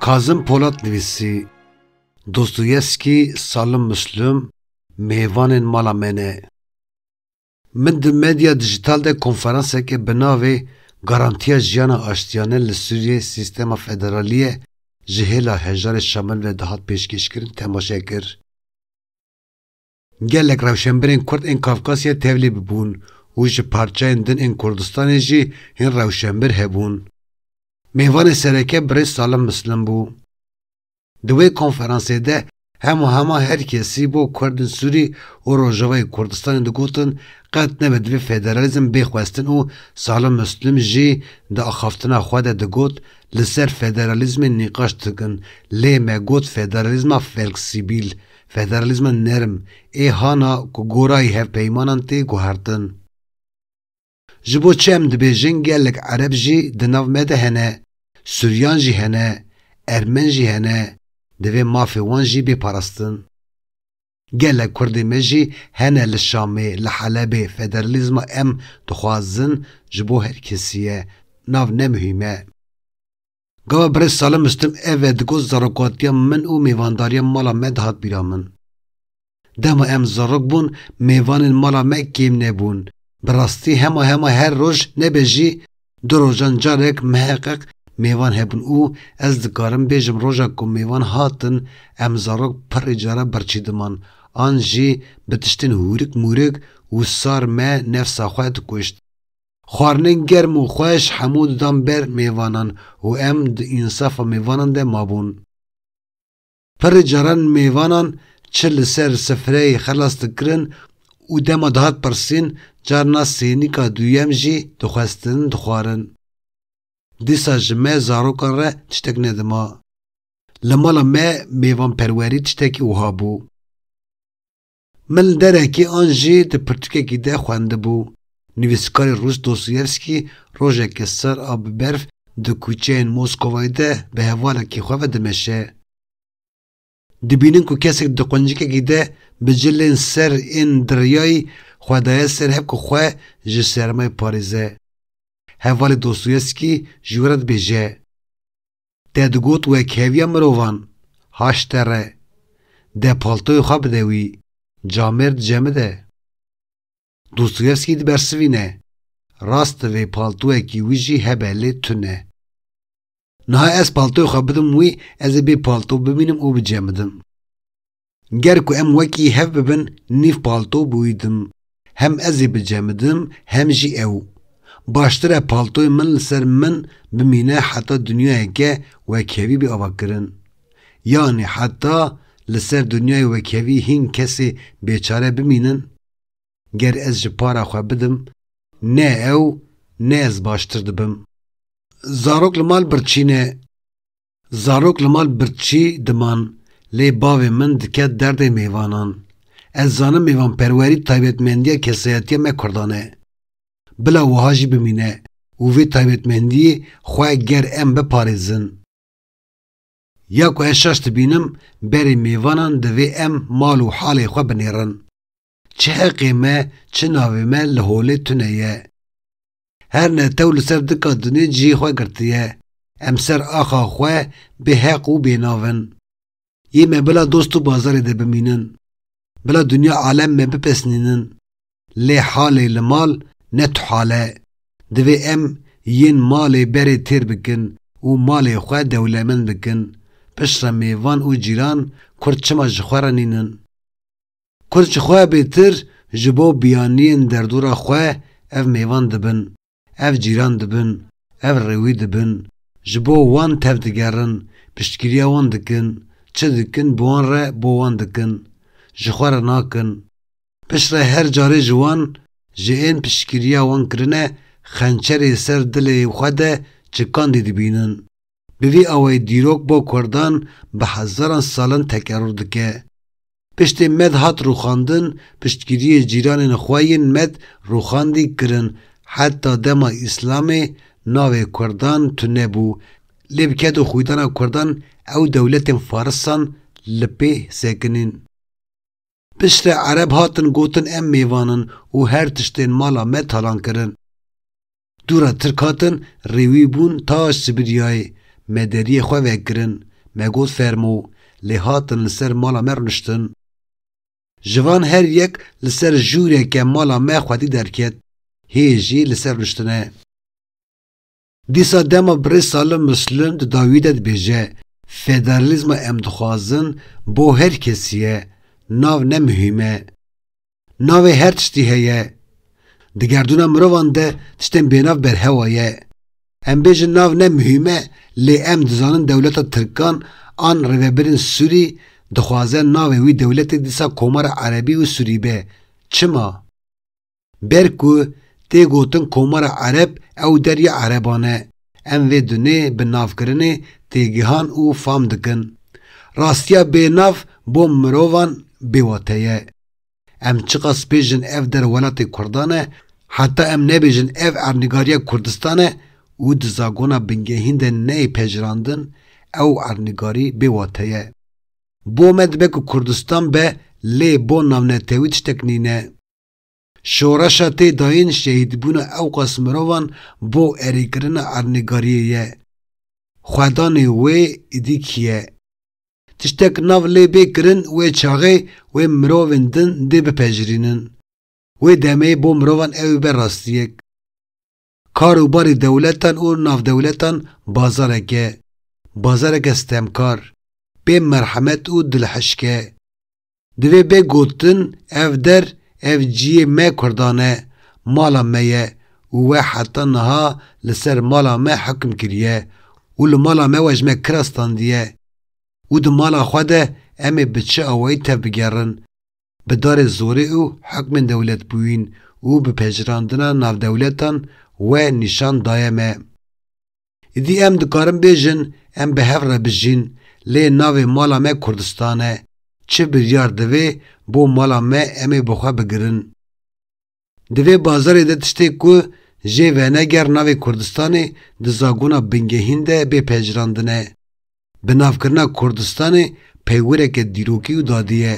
Kazim Polat nivîsî, Dostoyevskî, Salim Muslim mêvanên mala me ne. Min di medya dijital de konferanseke bi navê Garantiya Jiyana Aştiyane li Sûriyeyê Sîstema Federaliyê ji hêla Hejarê Şamil ve dihat pêşkêşkirin temaşe kir. Gelek rewşenbirên Kurd ên Kafkasyayê tevlî bibûn û ji parçeyên din ên Kurdistanê jî hin rewşenbir hebûn. Mêvanê sereke birêz Salim Mislim bû. Di wê konferansê de hema hema her kesî bo Kurdên Sûrî û Rojavayê Kurdistanê digotin qet nebe divê federalîzm bê xwestin û Salih Muslim jî di axaftina xwe de digot li ser federalîzmê nîqaş dikin lê me got federalîzma felksîbîl, federalîzma nerm, ê hana ku gorayî hevpeymanan tê guhertin. Ji bo çi em dibêjin gelek Ereb jî di nav me de hene, Suryan jî hene, Ermen jî hene, divê mafê wan jî bê parastin. Gelek Kurdê me jî hene li Şamê, li Helebê, federalîzma em dixwazin ji bo her kesî ye, nav ne muhîm e. Gava Birêz Salim Mistim ev e digot zarokatiya min û mêvandariya mala me dihat bîra min. Dema em zarok bûn mêvanên mala me kêm nebûn, bi rastî hema hema her roj nebe jî du rojan carek miheqeq mêvan hebûn û ez dikarim bêjim roja ku mêvan hatin em zarok pirrî cara birçî diman an jî bi tiştên hûrik mûrik û sar me nefsa xwe dikuşt. Xwarinên germ û xweş hemû didan ber mêvanan û em di însafa mêvanan de mabûn. Pirr caran mêvanan çi li ser sifreyê xelas dikirin û dema dihat pirsîn carna sênîka duyem jî dixwestin dixwarin. Dîsa ji me zarokan re tiştek nedima. Li mala me mêvanperwerî tiştekî wiha bû. Mil derekê an jî di pirtûkekî de xwendibû. Nivîskarê rûs Dostoyevsky rojeke sar a bi berf di kûçeyên Moskovayê de bi hevalekî xwe ve dimeşe. Dibînin ku kesek di quncikekî de bi cilên ser ên diryayî xwe daye ser hev ku xwe ji sermayê parêze. Hevalê Dostoyevsky ji wê re dibêje. Te digot we keviya mirovan, haş te re. De paltoyê xwe bide wî, camêr dicemide. Dostoyevskî dibersivîne, Rast divê paltoyekî wî jî hebe lê tune. Niha ez paltoyê xwe bidim wî, ez ê bê palto bimînim û bicemidim. Ger ku em wekî hev bibin nîv palto bûydim. Hem ez ê bicemidim hem jî ew. Baştir e paltoyê min li ser min bimîne heta dinyayeke wekhevî bê avakirin. Yanî heta li ser dinyayê wekhevî hîn kesê bêçare bimînin? Ger ez ji para xwe bidim ne ew ne ez baştir dibim. Zarok li mal birçîne. Zarok li mal birçî diman, lê bavê min diket derdê mêvanan. Ez zanim mêvanperwerî taybetmendiya kesayetiya me Kurdan e. Bila wiha jî bimîne û vê taybetmendiyê xwe ger em biparêzin. Ya ku ez şaş dibînim, berê mêvanan divê em mal û halê xwe binêrin. Çi heqê me, çi navê me li holê tune ye. Her netew li ser dika dinê cihê xwe girtiye. Em ser axa xwe bê heq û bê nav in. Yê me bila dost û bazarê de bimînin. Bila dinya alem me bipesnînin. Lê halê li mal ne tu hal e. Divê em yên malê berê têr bikin û malê xwe dewlemend bikin. Piştre mêvan û cîran kurd çima ji xwe re nînin? Kurd ji xwe bêtir ji bo biyaniyên derdora xwe ev mêvan dibin, ev cîran dibin, ev rêwî dibin, ji bo wan tev digerin, piştgiriya wan dikin, çi dikin bi wan re bo wan dikin, ji xwe re nakin. Piştre her carê ji wan, ji ên piştgiriya wan kirine xençerê ser dilê xwe de çikandî dibînin. Bi vî awayî dîrok bo kurdan bi hezaran salan tekerûr dike. Piştê med hat rûxandin, piştgiriyê cîranên xwe yên med rûxandî kirin, heta dema Îslamê navê kurdan tune bû, lê bi ked û xwîdana kurdan ew dewletên farisan li pê sekinîn. Piştre Ereb hatin gotin em mêvan in û her tiştên mala me talan kirin. Dûra Tirk hatin rêwî bûn taş Sibiryayê, me deriyê xwe vekirin, me got fermo, lê hatin li ser mala me rûniştin. Ji van her yek li ser jûreke mala me xwedî derket, hê jî li ser rûniştine. Dîsa dema birêz Salim Muslim di dawî de dibêje, Federalîzma em dixwazin bo her kesî ye, nav ne muhîm e. Navê her tiştî heye. Di gerdûna mirovan de tiştên bênav berhewa ye. Em bêjin nav ne muhîm e lê em dizanin dewleta Tirkan an rêvebirên Sûrî dixwaze navê wî dewletê dîsa Komara Erebî û Sûrî be. Çima? Ber ku tê gotin Komara Ereb ew derya Ereban e. Em vê dunê bi navkirinê têgihan û fam dikin. Rastiya bê nav bo mirovan bê wate ye. Em çiqas bêjin ev der welatê kurdan e, heta em nebêjin ev ernigariya Kurdistan e û di zagona bingehîn de neyê pejirandin, ew ernigarî bê wate ye. Bo me dibe ku Kurdistan be lê bo navnetewî tiştek nîne. Şoreşa tê dayîn şehîdbûna ewqas mirovan bo erêkirina erdnîgariyê ye. Xwedanê wê îdî kî ye? Tiştek nav lê bê kirin wê çaxê wê mirovên din dê bipejirînin. Wê demê bo mirovan ew ê be rastiyek. Kar û barê dewletan û navdewletan bazarek e. Bazareke sitemkar, bê merhemet û dilhişk e. Divê bê gotin ev der, ev ciyê me Kurdan e, mala me ye û we heta niha li ser mala me hukm kiriye û li mala me we ji me kira standiye û di mala xwe de em ê bi çi awayî tev bigerin, bi darê zorê û hukmên dewletbûyîn û bi pejirandina navdewletan we nîşan daye me. Îdî em dikarin bêjin em bi hev re bijîn lê navê mala me Kurdistan e, çi biryar divê bo mala me em ê bi xwe bigirin. Di vê bazarê de tiştê ku jê veneger navê Kurdistanê di zagona bingehîn de bê pejirandine. Bi navkirina Kurdistanê peywireke dîrokî û dadî ye.